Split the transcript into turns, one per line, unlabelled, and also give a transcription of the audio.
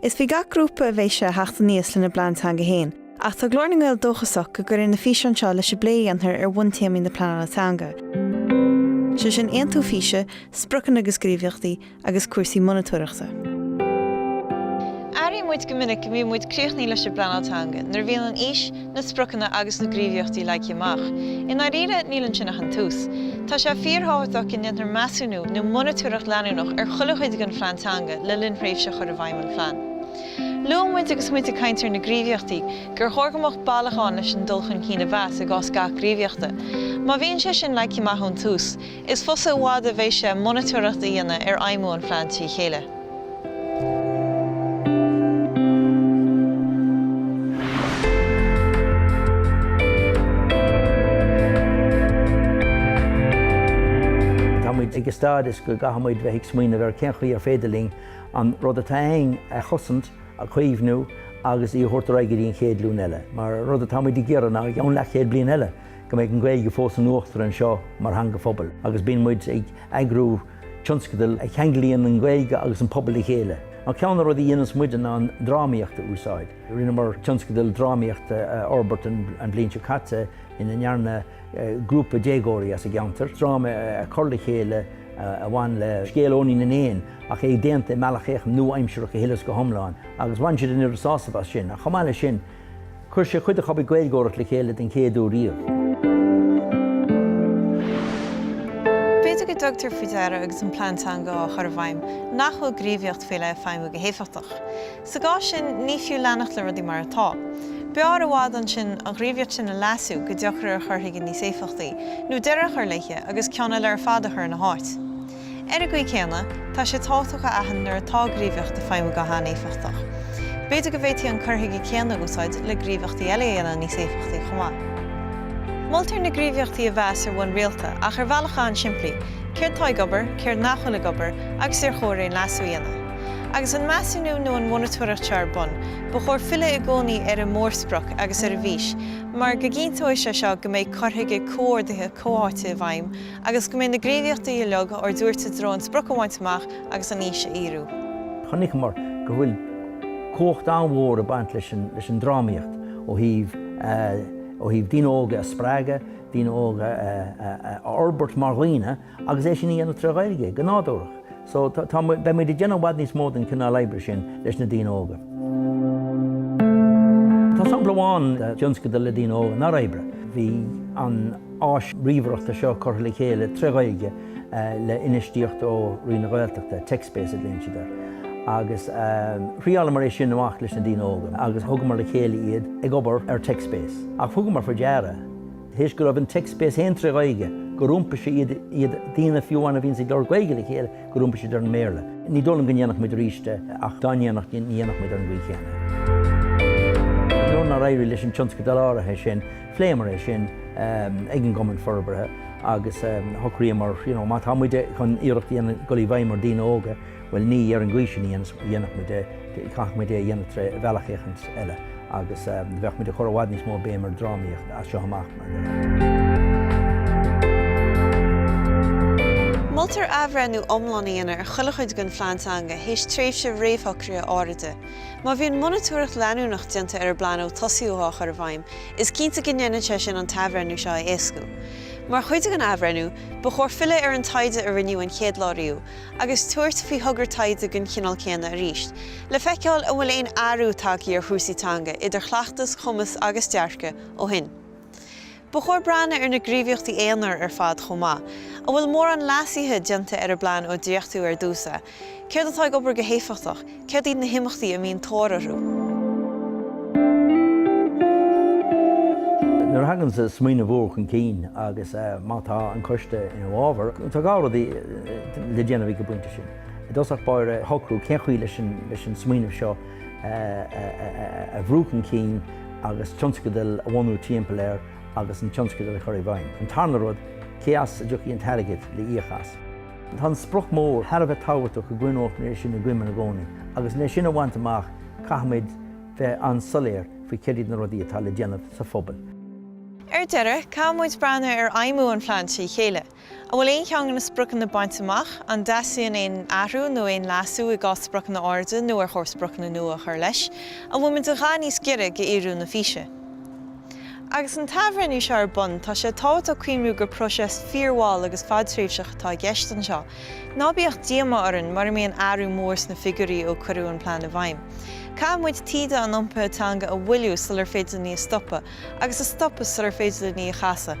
Is faoi gach grúpa a bheidh sé a theacht aníos lena bplean teanga féin, ach tá Glór na nGael dóchasach go gcuirfidh na físeáin seo leis an bplé a dhéantar ar bhuntéamaí na pleanála teanga, sé sin aontú físe, spriocanna agus gníomhaíochtaí, agus cúrsaí monatóireachta.
Airíonn muid go minic go mbíonn muid críochnaithe leis an bpleanáil teanga nuair a bhíonn an fhís, na spriocanna agus na gníomhaíochtaí leagtha amach. I ndáiríre, níl ansin ach an tús. Tá sé fíorthábhachtach go ndéantar measúnú nó monatóireacht leanúnach ar chuile chuid den phlean teanga le linn thréimhse chur i bhfeidhm an phlean. Luaigh muid agus muid ag caint ar na gníomhaíochtaí gur chóir go mbeadh bealach ann leis an dul chun cinn a mheas i gcás gach gníomhaíochta. Má bhíonn sé sin leagtha amach ón tús, Is fusa i bhfad a bheidh sé monatóireacht a dhéanamh ar fheidhmiú an phlean trí
chéile. Tá muid ag an stádas go gcaithfidh muid bheith ag smaoineamh ar cén chaoi ar féidir linn an rud atá againn a chosaint, a chaomhnú agus í a thabhairt ar aghaidh go dtí an chéad ghlúin eile. Mar rud atá muid ag iarraidh ná i gceann leathchéad bliain eile. go mbeidh an Ghaeilge fós in uachtar anseo mar theanga phobail agus bíonn muid ag eagrú tionscadal a cheanglaíonn an Ghaeilge agus an pobal le chéile. Ceann de na rudaí a dhéanas muide ná an drámaíocht a úsáid. Rinneamar tionscadal drámaíochta a fhorbairt an bhliain seo caite ina ndearna grúpa déagóirí as an gceantar dráma a chur le chéile a bhain le scéal Eoinín na nÉin ach é déanta i mbealach nua-aimseartha go huile is go hiomlán agus bhain siad an oiread sásaimh as sin. Ach chomh maith leis sin, Chuir sé ar chuid acu a bheith ag Gaeilgeoireacht le chéile den chéad uair
riamh. B'fhéidir go dtugtar faoi deara agus an plean teanga á chur i bhfeidhm nach bhfuil gníomhaíocht faoi leith ag feidhmiú go héifeachtach. Sa gcás sin, ní fiú leanacht le rudaí mar atá. B'fhearr i bhfad ansin an ghníomhaíocht sin a leasú go dtiocfar ar chur chuige níos éifeachtaí, nó deireadh a chur léithe agus ceann eile ar fad a chur ina háit. Ar an gcaoi céanna, tá sé tábhachtach a aithint nuair atá gníomhaíocht ag feidhmiú go han-éifeachtach. B'fhéidir go bhféadfaí an cur chuige céanna a úsáid le gníomhaíochtaí eile a dhéanamh níos éifeachtaí chomh maith. Moltar na gníomhaíochtaí a mheas ar bhonn rialta ach ar bhealach an-simplí, céard tá ag obair, céard nach bhfuil ag obair agus ar chóir aon leasú a dhéanamh. Agus an measúnú nó an mhonatóireacht seo ar bun, ba chóir filleadh i gcónaí ar an mórsprioc agus ar an bhfís mar go gcinnteoidh sé seo go mbeidh cur chuige comhordaithe comhtháite i bhfeidhm Agus go mbeidh na gníomhaíochtaí uilig ár dtabhairt i dtreo an sprioc a bhaint amach agus an fhís a fhíorú. Chonaiceamar
go bhfuil cumhacht an-mhór ag baint leis an drámaíocht ó thaobh daoine óga a spreagadh, daoine óga a fhorbairt mar dhaoine agus é sin a dhéanamh tré Ghaeilge, go nádúrtha. So, tá muid, beidh muid ag déanamh i bhfad níos mó den chineál oibre sin leis na daoine óga. Tá sampla amháin de thionscadal le daoine óga nár oibrigh. Bhí an áis ríomhaireachta seo curtha le chéile trí Ghaeilge le infheistíocht ó Roinn na Gaeltachta, TechSpace a glaonn siad air. Agus thriáileamar é sin amach leis na daoine óga agus thugamar le chéile iad ag obair ar TechSpace. Ach thugamar faoi deara, théis go raibh an Techspace fhéin trí Ghaeilge, gur iompaigh sé iad, daoine fiú amháin a bhíonns ag labhairt Gaeilge le chéile, gur iompaigh siad ar an mBéarla. Ní dóigh liom go ndéanfadh muid arís é, ach dá ndéanfadh, ní dhéanfadh muid ar an gcaoi chéanna é. Nuair nár éirigh leis an tionscadal áirithe sin, phléamar é sin ag an gCumann Forbartha agus shocraíomar, you know, má tá muide chun iarracht a dhéanamh dul i bhfeidhm ar dhaoine óga, Bhuel ní ar an gcaoi sin a dhéanfadh muid é, chaithfeadh muid é a dhéanamh trí bhealach éicint eile agus beidh muid ag cur i bhfad níos mó béim ar dhrámaíocht as seo amach mar.
Moltar athbhreithniú iomlán a dhéanamh ar chuile chuid den phlean teanga théis tréimhse réamhshocraithe áiride. Má bhíonn monatóireacht leanúnach déanta ar an bplean ó tosaíodh á chur i bhfeidhm, is cinnte go ndéanann sé sin an t-athbhreithniú seo a éascú. Mar chuid den athbhreithniú, ba chóir filleadh ar an taighde a rinneadh an chéad lá riamh, agus tabhairt faoi thogra taighde den chineál céanna arís, le feiceáil an bhfuil aon athrú tagtha ar chúrsaí teanga, idir chleachtas, cumas agus dearcadh, ó shin. Ba chóir breathnú ar na gníomhaíochtaí aonair ar fad chomh maith. An bhfuil mórán leasuithe déanta ar an bplean ó dréachtaíodh ar dtús é? Céard atá ag obair go héifeachtach? Céard iad na himeachtaí a mbíonn tóir
orthu? Nuair a thagann smaoineamh úr chun cinn agus má tá an coiste ina fhábhar, tá dhá rud le déanamh ag an bpointe sin. I dtosach báire, a shocrú cén chaoi leis an smaoineamh seo a bhrú chun cinn agus tionscadal a bhunú timpeall air agus an tionscadal a chur i bhfeidhm. An tarna rud, cé as a dtiocfaidh an t-airgead le íoc as? Tá an sprioc mór thar a bheith tábhachtach go gcoinneofaí é sin i gcuimhne i gcónaí agus le sin a bhaint amach caithfimid bheith an-soiléir faoi céard iad na rudaí atá le déanamh sa phobal. Ar
deireadh, caithfimid breathnú ar fheidhmiú an phlean trí chéile. An bhfuil aon cheann de na spriocanna bainte amach? An dteastaíonn aon athrú nó aon leasú i gcás spriocanna áiride nó ar chóir spriocanna nua a chur leis? An bhfuil muid a dhath níos gaire do fhíorú na físe? Agus an t-athbhreithniú seo ar bun, tá sé tábhachtach a chuimriú gur próiseas fíormhall agus fadtréimhseach atá i gceist anseo. Ná bíodh díomá orainn mura mbíonn athrú mór sna figiúirí ó cuireadh an plean i bhfeidhm. Caithfidh muid taoide an iompaithe teanga a mhoilliú sular féidir linn í a stopadh, agus a stopadh sular féidir linn í a chasadh.